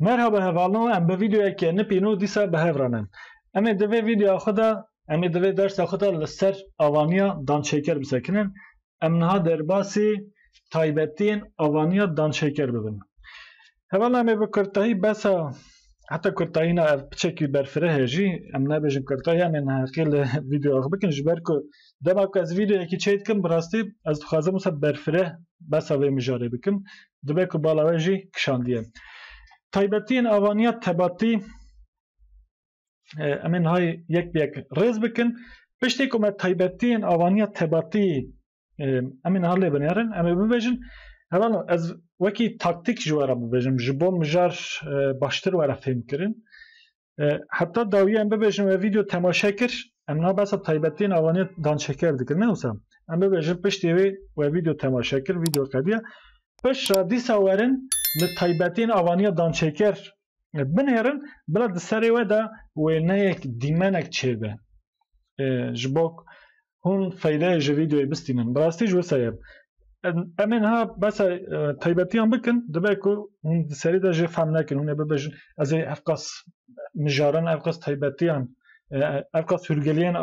Merhaba hevalno em bi vîdeoyeke nipîno dîsa bi hev re ne. Em ê di vê vîdeoya xwe de em ê di vê dersa xwe de li ser avaniya danşêker bisekinin. Em niha derbasî taybetiyên avaniya danşêker bibin. Hevalên me bi kurtayî bes e. Heta kurtayîna ev piçekî berfireh e jî, em nabêjin kurtayî em ê neheqî li vîdeoya xwe bikin ji ber ku dema ku ez vîdeoyekî çê dikim bi rastî ez dixwazim wisa berfireh besa vê mijarê bikim dibe ku bala we jî kişandiye. Taybetiyên avaniya tebatî em ê niha yek bi yek rêz bikin. Piştî ku me taybetiyên avaniya tebatî Em ê niha lê binêrin, em ê bibêjin hevala ez wekî taktîk ji we re bibêjim ji bo mijar baştir were fêmkirin. Heta dawiye em bibêjin we vîdeo temaşe kir, em niha behsa taybetî navaniye danşeker dikin ne wisa. Em bibêjin piştî wê we vîdeo temaşe kir, vîdeo qediya. Pişra dîsa werin li taybetîn avaniya dançêker binêrin bila di serê we de wêneyek dîmenek çêbe. ji bo hûn feydeyê ji vîdeoyê bistînin. Bi rastî jî wisa ye. Em ê niha besa taybetiyan bikin, dibe ku hûn di serî de jê fehm nekin, hûn ê bibêjin ez ê evqas mijaran, evqas taybetiyan, evqas hûrgiliyên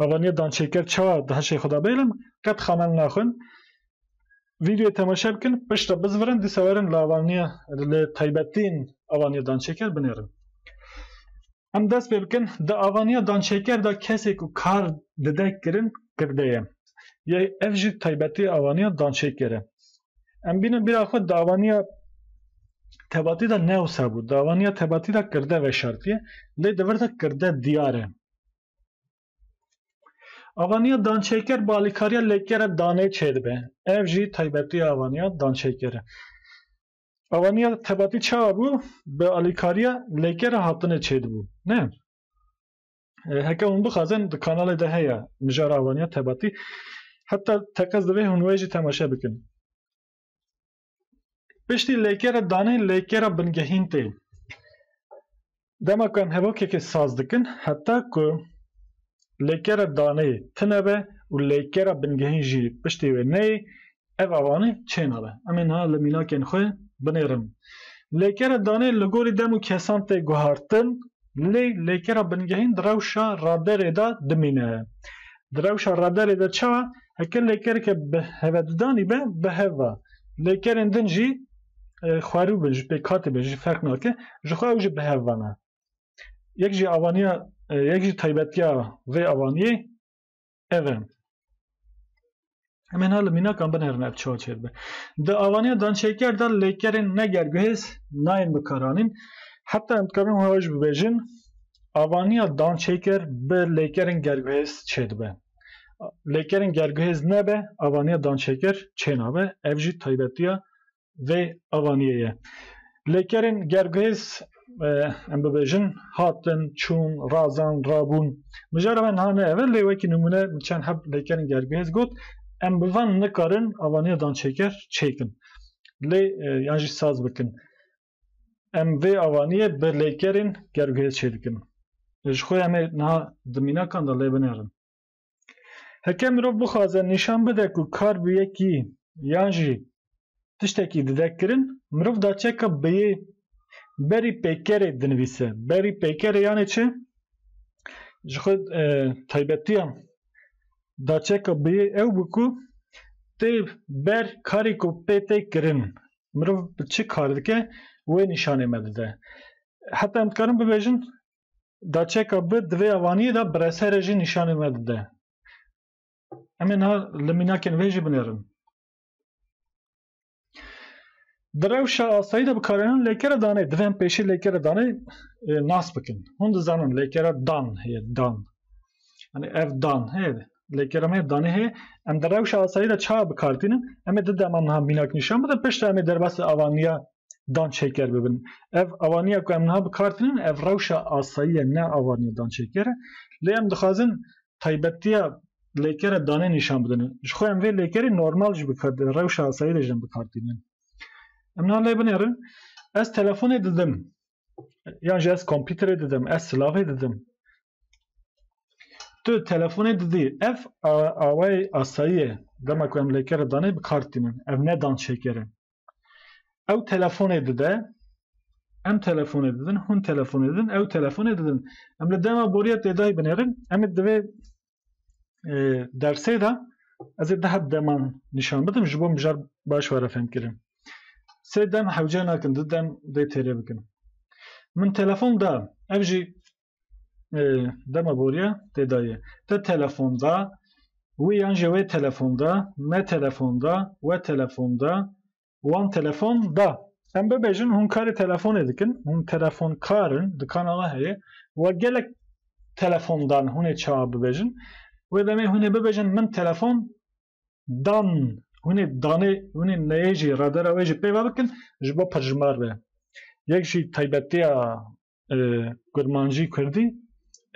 avaniya dançêker çawa di heşê xwe de bêlin, qet xemel naxwin. Vîdeoyê temaşe bikin, pişt re bizvirin, dîsa werin li avaniya li taybetiyên avaniya dançêker binêrin. Em dest pê bikin, di avaniya danşeker de kesê ku kar dide kirin kirde ye. Yê ev jî taybetiya avaniya danşeker e. Em bînin bîra xwe di avaniya tebatî de ne wisa bû. Di avaniya tebatî de kirde veşartiye lê di vir de kirde diyar e. Avaniya danşeker bi alîkariya lêkere danê çêdibe. Ev jî taybetiya avaniya danşeker e. Awaniya tebatî çawa bû? Bi alîkariya lêker a hatinê çêdibû. Ne. Heke hûn bixwazin di kanalê de heye mijara awaniya tebatî. Heta teqez divê hûn wê jî temaşe bikin. Piştî lêkere danê lêkera bingehîn tê. Dema ku em hevokekê saz dikin, heta ku lêkera daneyê tune be û lêkera bingehîn jî piştî wê neyê, ev avanê çênabe. Em ê niha li mînakên xwe binêrin. Lêkera daneyê li gorî dem û kesan tê guhartin, lê lêkera bingehîn di rewşa raderê de dimîne. Di rewşa raderê de çawa? Heke lêkereke bi hevedidanî be, bi hev be. Lêkerên din jî xwerû be ji pêkhatê be jî ferq nake ji xwe ew jî bi hev vana. Yek jî avaniya yek jî taybetiya vê avaniyê ev e. Em hêna li mînakan binerin ev çawa çê dibe. Di avaniya dançêker de lêkerên ne gerguhêz nayên bikaranîn. Heta em dikarin wiha jî bibêjin avaniya dançêker bi lêkerên gerguhêz çê dibe. Lêkerên gerguhêz nebe avaniya dançêker çê nabe. Ev jî taybetiya vê avaniyê ye. Lêkerên gerguhêz em bibêjin hatin, çûn, razand, rabûn. Mijara me niha ne ev e lê wekî nimûne min çend heb lêkerên gerguhêz got. Em bi van nikarin avaniya dançêker çêkin. Lê yan jî saz bikin. Em vê avaniyê bi lêkerên gerguhêz çêdikin. Ji xwe em ê niha di mînakan de lê binerin. Heke mirov bixwaze nîşan bide ku kar bi yekî yan jî tiştekî dide kirin, mirov da çeka bêyê berî pêkerê dinivîse. Berî pêkerê yanê çi? Ji xwe taybetiyan da çeka bêyê ew bû ku tê ber karê ku pê tê kirin. Mirov çi kar dike wê nîşanê me dide. Heta em dikarin bibêjin Daçeka bi di vê avaniyê de bireserê jî nîşanê me dide. Em ê niha li mînakên wê jî binêrin. Di rewşa asayî de bikarenan lêkere danê. Divê em pêşî lêkere danê nas bikin. Hûn dizanin lêkere dan heye dan. Yani ev dan heye Lê kelamê danê hê em di rewşa asayî de çawa bikartînin, em ê di dema niha mînak nîşan bidin piştre em ê derbasî avaniya dan çêker bibin. Ev avaniya ku em niha bikartînin ev rewşa asayî ye ne avaniya dan çêker e. Lê em dixwazin taybetiya lêkere danê nîşan bidin. Ji xwe em vê lêkerî normal jî bikartînin rewşa asayî de jî em bikartînin. Em niha lê binêrin ez telefonê didim. Yan jî ez kompîterê didim, ez silavê didim. Tu telefonê didî, ev awayê asayî ye. Dema ku em lêkere danê bi kar tînin. Ev ne dan şêker e. Ew telefonê dide, em telefonê didin, hûn telefonê didin, ew telefonê didin. Em li dema borîya têdayî binêrin, em ê divê dersê de ez ê deh deman nîşan bidim ji bo mijar baş were fêmkirin. Sê dem hewce nakin, du dem dê têrê bikin. Min telefon da, ev jî dema boriya tê dayê. Te telefon da, wî yan jî wê telefon da, me telefon da, we telefon da, wan telefon da. Em bibêjin hûn karê telefonê dikin, hûn telefonkar in, dikana we heye we gelek telefon dan hûn ê çawa bibêjin. Wê demê hûn ê bibêjin min telefon dan. Hûn ê danê hûn ê neyê jî redera wê jî pê ve bikin ji bo pirjimar be. Yek jî taybetiya Kurmanjî Kurdî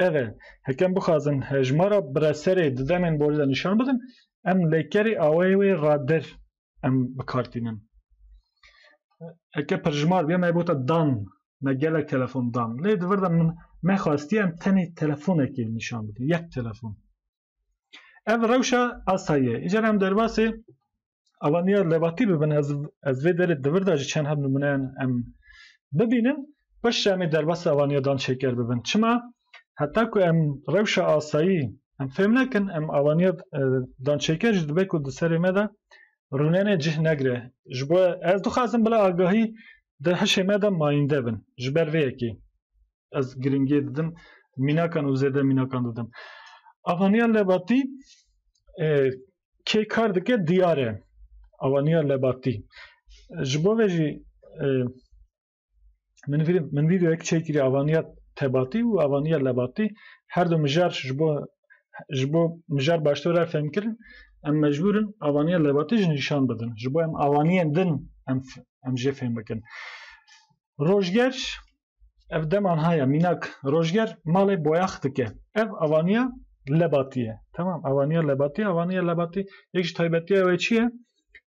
ev e. Hekem bixwazin hejmara bireserê di demên borî de nîşan bidin, em lêkerê awayê wê radir em bi kar tînin. Heke pirjimar bîya me bota dan, me gelek telefon dan. Lê di vir de min me xwestiye em tenê telefonekê nîşan bidin, yek telefon. Ev rewşa asayî ye. Îcar em derbasê avaniya lebatî bibin ez ez vê derê di vir de jî çend heb nimûneyan em bibînin baş ji emê derbasê avaniya dan şêker bibin. Çima heta ku em rewşa asayî em fêm nekin em avaniya dan şêker jî dibe ku di serê me de rûnenê cih negire. Ji bo ez dixwazim bila agahî di hişê me de mayînde bin. Ji ber vê yekê ez giringiyê didim mînakan û zêde mînakan didim. Avaniya Lebatî e, kê kar dike diyar e. Avaniya Lebatî. Ji bo ve jî e, min vîdim min vîdeoyek çêkirî avaniya Tebatî û avaniya Lebatî her du mijar ji bo ji bo mijar baştir re fêm kirin em mecbûrin avaniya Lebatî ji nîşan bidin. Ji bo em avaniyên din em em jê fêm bikin. Rojger Ev deman haya mînak rojger malê boyax dike. Ev avaniya lebatî ye. Tamam avaniya lebatî, avaniya lebatî yek ji taybetiya wê çi ye?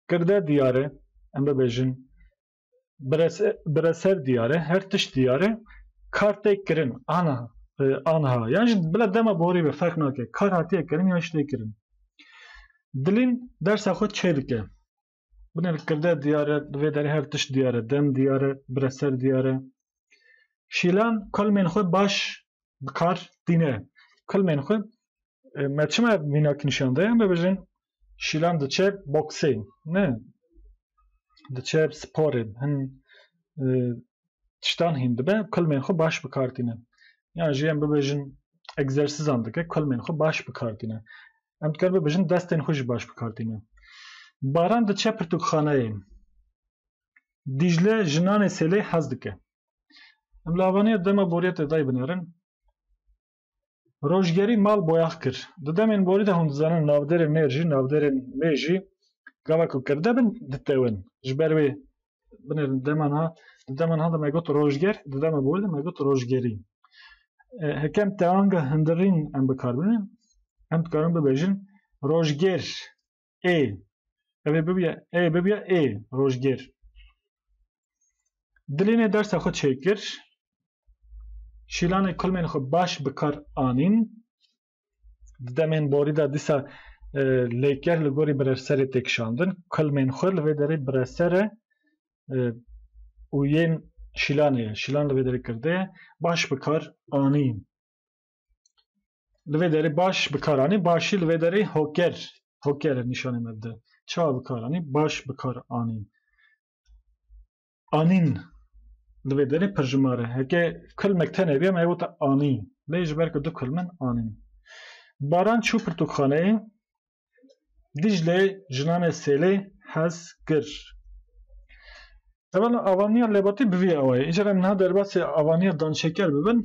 Girde diyar e, em bibêjin bireser diyar e, her tişt diyar e, kar tê kirin ana anha yan ji bila dema borî be ferq nake kar hatiye kirin yan ji tê kirin. Dilîn dersa xwe çê dike. Binê li kirde diyar e, li vê derê her tişt diyar e, dem diyar e, bireser diyar e. Şîlan kulmên xwe baş bi kar tîne. Kulmên xwe e, me çima mînak nîşan daye em bibêjin Şîlan diçe boksê ne diçe sporê hin e, tiştan hîn dibe kulmên xwe baş bi kar tîne. Yan jî em bibêjin egzersîzan dike kulmên xwe baş bi kar tîne. Em dikar bibêjin destên xwe jî baş bi kar tînin. Baran diçe pirtûkxaneyê. Dîcle jinanê sêlê hez dike. Em li Avaniya dema boriyê tê dayê binerin. Rojgerî mal boyax kir. Di demên borî de hûn dizanin navdêrên mêr jî navdêrên mê jî gava ku kirde bin ditewin. Ji ber wê Binê di deman ha, di deman ha de me got rojger, di dema bol de me got rojgerî. E, hekem teanga hindirîn em bikar binin, em dikarin bibêjin rojger ê. Ev ê bibiye ê bibiye ê rojger. Dilê nê dersa xwe çêkir, şîlanê kulmên xwe baş bikar anîn, Di demên borî de dîsa e, lêker li gorî birevserê tê kişandin. Kulmên xwe li vê derê bireser e e, û yên şîlanê ye. Şîlan li vê derê kirde ye. Baş bikar anî. Li vê derê baş bikar anî. Başî li vê derê hoker. Hoker e nîşanê me bide. Çawa bikar anî? Baş bikar anî. Anîn Di vê derê pirjimar e. Heke kulmek tenê bîya me yê wota anî. Lê ji ber ku du kulm in anîn. Baran çû pirtûkxaneyê. Dîcle jinanê sêlê hez kir. Evela avaniya lebatî bi vî awayî. Îcar em niha derbasî avaniya danşeker bibin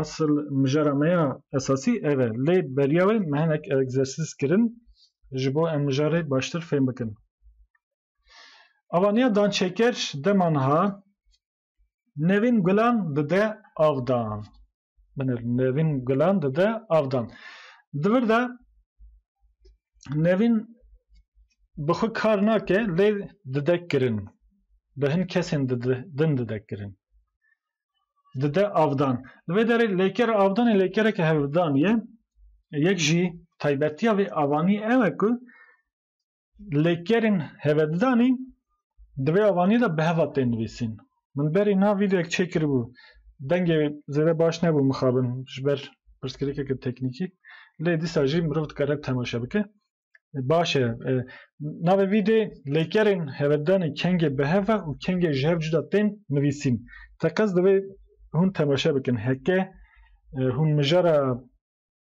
esil mijara me ya esasî ev e. Lê beriya wê me hinek egzersîz kirin ji bo em mijarê baştir fêm bikin. Avaniya dançeker dema niha nevîn gulan dide avdan. Binir nevîn gulan dide avdan. Di vir de nevîn bi xwe kar nake lê dide kirin. Bi hin kesên din dide kirin. Dide avdan. Li vê derê lêker avdanê lêkereke hevdanî ye. Yek jî taybetiya vê avanî ew e ku Lêkerên hevedidanî di vê avaniyê de bi heva tên nivîsîn. Min berî na vîdeoyek çêkiribû. Dengê zêde baş nebû mixabin ji ber pirsgirêkeke teknîkî. Lê dîsa jî mirov dikare temaşe bike. Baş e. Navê vîdeoyê Lêkerên hevedidanê kengê bi hev e û kengê ji hev cuda tên nivîsîn. Teqez divê hûn temaşe bikin. Heke hûn mijara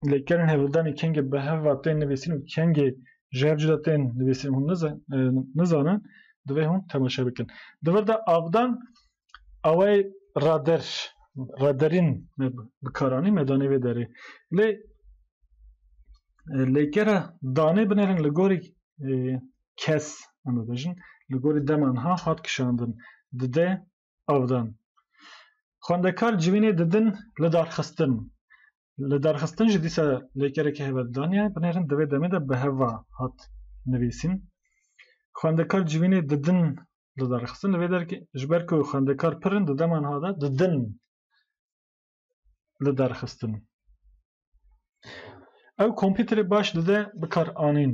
Lê kerên hevldanê kengê bi hev ve tên nivîsîn û kengê ji hev cuda tên nivîsîn hûn nizanin, divê hûn temaşe bikin. Di vir de avdan awayê rader, raderîn me bi kar anî, me danê vê derê. Lê lêkera danê binêrin li gorî kes em bibêjin, li gorî dema niha hat kişandin. Di de av dan. Xwendekar civînê didin li darxistin. Li darxistin jî dîsa lêkereke heve didaniye. Binêrin di vê demê de bi heva hat nivîsîn. Xwendekar civînê didin li darxistin. Li vê derkê ji ber ku xwendekar pir in di dema niha de didin li darxistin. Ew kompîterê baş dide bikaranîn.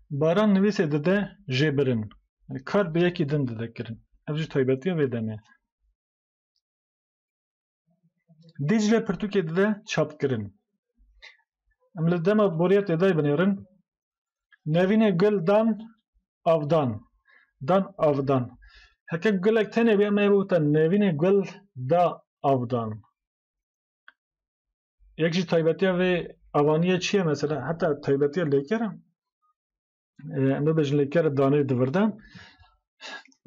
Baran nivîsê dide jêbirin. Yani kar bi yekî din dide kirin. Ev jî taybetiya vê demê. Dîcle pirtûkê dide çapkirin. Em li dema boriya têday binêrin. Nevînê gul dan avdan. Dan avdan. Heke gulek tenê bê em ê bûta nevînê gul da avdan. Yek jî taybetiya vê avaniyê çi ye mesela heta taybetiya lêkeran em bibêjin lêkera danê divirdan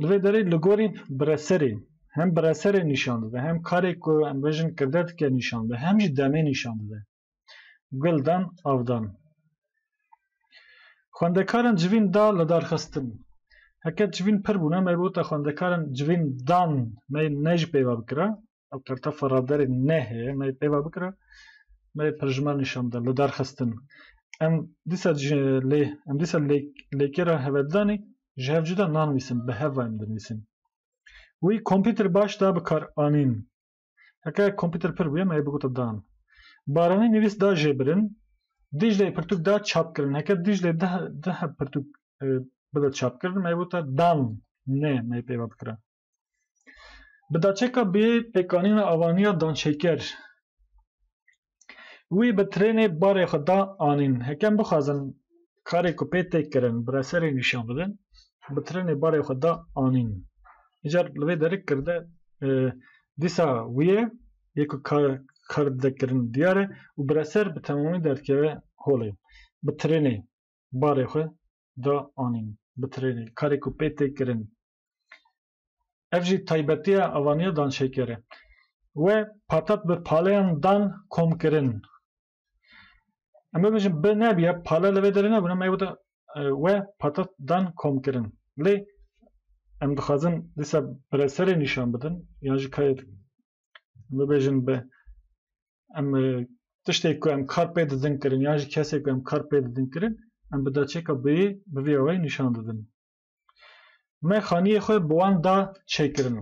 li vê derê li gorî bireserê hem bireserê nîşan dide hem karê ku em bêjin kirde dike nîşan dide hem jî demê nîşan dide guldan avdan xwendekaran civîn da li darxistin heke civîn pir bûne me bi wota xwendekaran civîn dan me ne jî peyva bikira ew tertefa ravderê nehê me pêva bikira me pirjima nîşan da li derxistin em dîsa lê em dîsa lêkêra hevedanê ji hev cuda nanivîsin bi heva em dinivîsin wî kompîter baş da bikar anîn heke kompîter pir bûye me bigota dan baranî nivîs da jêbirin Dîcleyê pirtûk da çap kirin heke Dîclê dih dih pirtûk e, bide çapkirin me wota dan ne me pêva bikira. Bi daçeka bê pêkanîna avaniya danşêker. Wî bi trênê barê xwe da anîn. Hekem bixwazin karê ku pê têk kirin bi reserê nîşan bidin, bi trênê barê xwe da anîn. Îcar li vê derik kirde e, dîsa wî ye yê ku kar, kar dide kirin diyar e û bi reser bi temamî derdikeve holê. Bi trênê barê xwe da anîn. Bi trênê karê ku pê têk kirin Ev jî taybetiya avaniya danşêkerê. We patat bi paleyan dan komkirin. Em bibêjin bi nebîya pale li vê derê nebûn em ê wita we patat dan komkirin. Lê em dixwazin dîsa bireserê nîşan bidin yan jî kayê bibêjin bi em tiştê ku em kar pê didin kirin yan jî kesê ku em kar pê didin kirin em bi daçêka biyê bi vî awayî nîşan didin. Me xaniyê xwe bi wan da çêkirin.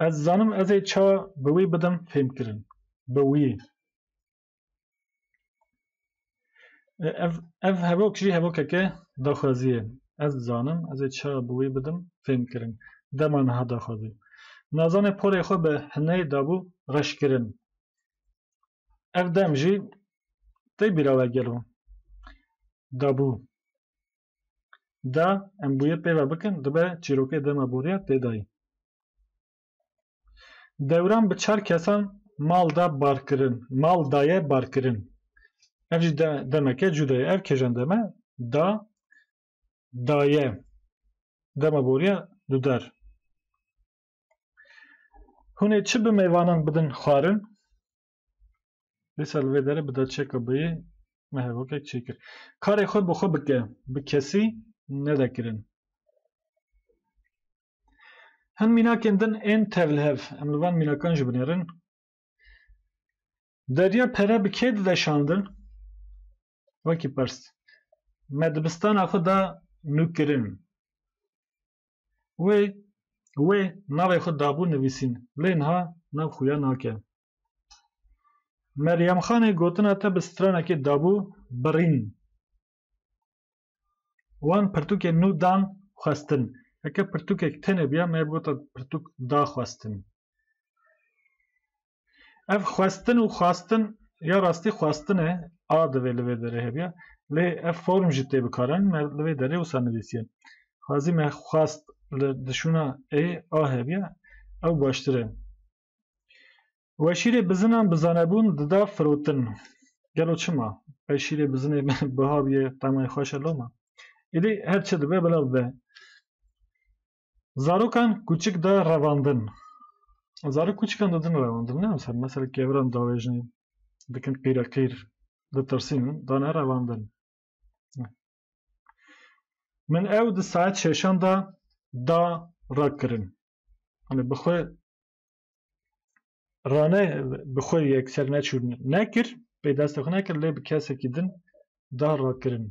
Ez zanim ez ê çawa bi wî bidim fêmkirin. Bi wî. Ev, ev hevok jî hevokeke daxwazî ye. Ez zanim ez ê çawa bi wî bidim fêmkirin. Dema niha daxwazî. Nazanê porê xwe bi hineyê dabû reşkirin. Ev dem jî tê bîra we gelo dabû da em bûye pê ve bikin dibe çîrokê dema boriya tê dayî. Dewran bi çar kesan mal da barkirin, mal daye barkirin. Ev jî de, demeke cûda ye. Ev kêjan deme da daye dema boriya dudar. Hûnê çi bi mêvanan bidin xwarin? Dîsa li vê derê bi derçeka beyê me hevokek çêkir. Karê xwe bi xwe bike, bi kesî nede kirin. Hin mînakên din ên tevlihev, em li van mînakan jî binêrin. Derya pere bi kê dide şandin? Wekî pirs. Me dibistana xwe da nûkirin. Wê wê navê xwe dabû nivîsîn lê niha nav xwe ya nake. Meryemxanê gotina te bi stranekê dabû birîn. Wan pirtûkê nû dan xwestin. Heke pirtûkek tenê biya me bi gota pirtûk da xwestin. Ev xwestin û xwastin ya rastî xwestin e, a divê li vê derê hebiya. Lê ev form jî tê bikarin, me li vê derê wisa nivîsiye. Xwezî me xwest li dişûna ê, a hebiya, ew baştir e. We şîrê bizinan bi zanebûn dida firotin. Gelo çima? Qey şîrê bizinê biha bûye, temay xweş e loma? Îdî her çi dibe bila bibe. Zarokan kûçik da revandin. Zarok kûçikan didin revandin ne mesela mesela keviran davêjin dikin qîre qîr ditirsîn dane revandin. Min ew di saet şeşan da da rakirin. Hani bi xwe Rane bi xwe yekser neçû nekir, pê destê xwe nekir lê bi kesekî din da rakirin.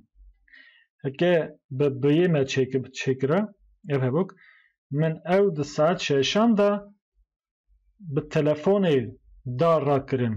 Heke bi biyê me çêkira ev hevok, min ew di saet şeşan de bi telefonê da rakirin.